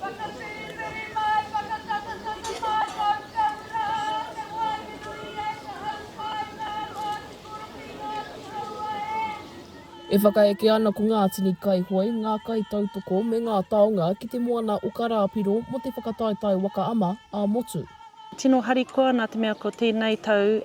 Whakawhirinwhiri mai, whakatangatanga mai tau tau rā, te wāhi nui e ka hau mai ngā wāhi kura ki ngā tūhaua e. E whakaeke ana ko ngā tini kaihoe, ngā kaitautoko me ngā taonga ki te moana o Karāpiro mō te whakataetae waka ama ā-motu. Tino harikoa nā te mea ko tēnei tau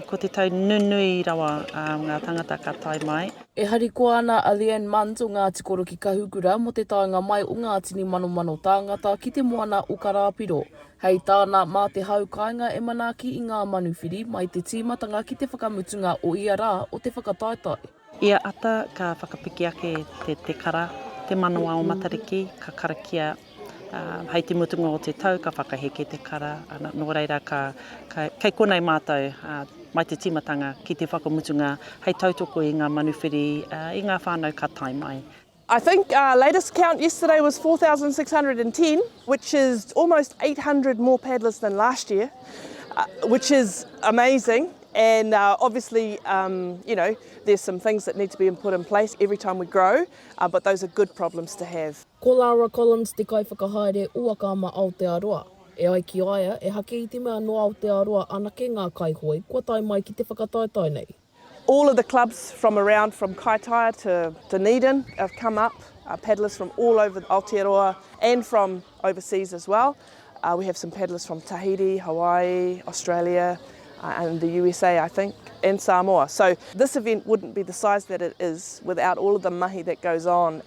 ko te tau nunui rawa a ngā tangata ka tae mai. E harikoa ana a Leanne Munns o Ngāti Koro ki Kahukura mō te taenga mai o ngā tini manomano tāngata ki te moana o Karāpiro. Hei tāna, mā te hau kāinga e manaaki i ngā manuwhiri mai te tīmatanga ki te whakamutunga o ia rā o te whakataetae. Ia ata ka whakapiki ake te tekara, te manawa o Matariki ka karakia. Hei te mutunga o te tau ka whakaheke te kara, nō reira ka, ka, kei konei mātou mai te tīmatanga ki te whakamutunga hei tautoko i ngā manuwhiri, i ngā whānau ka tae mai. I think our latest count yesterday was 4610 which is almost 800 more paddlers than last year which is amazing and obviously you know there's some things that need to be put in place every time we grow but those are good problems to have. Ko Lara Collins te Kaiwhakahaere o Akaama Aotearoa. E ai ki a ia, ehake i te mea nō Aotearoa anake ngā kaihoe kua tae mai ki te whakataetae nei. All of the clubs from around from Kaitaia to Dunedin have come up, paddlers from all over Aotearoa and from overseas as well. We have some paddlers from Tahiti, Hawaii, Australia and the usa I think and Samoa. So this event wouldn't be the size that it is without all of the mahi that goes on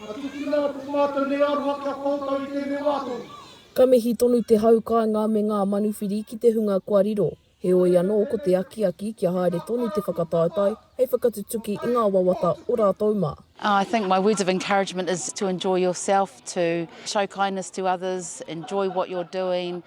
Ka tukuna atu ko mātou nei aroha ki a koutou i tēnei wā tonu. Ka mihi tonu te hau kāinga me ngā manuwhiri ki te hunga kua riro, heoi anō ko te akiaki kia haere tonu te whakataetae hei whakatutuki i ngā wawata o rātou mā. I think my words of encouragement is to enjoy yourself, to show kindness to others, enjoy what you're doing.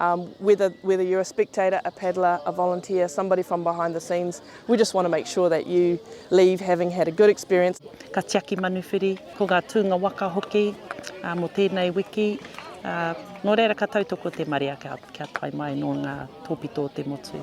Um, whether, whether you're a spectator, a paddler, a volunteer, somebody from behind the scenes, we just want to make sure that you leave having had a good experience. Ka tiaki manuwhiri, ko ngā tūnga waka hoki uh, mō tēnei wiki. Uh, nō reira ka tautoko te marea kia, kia tae mai nō ngā tōpito o te motu.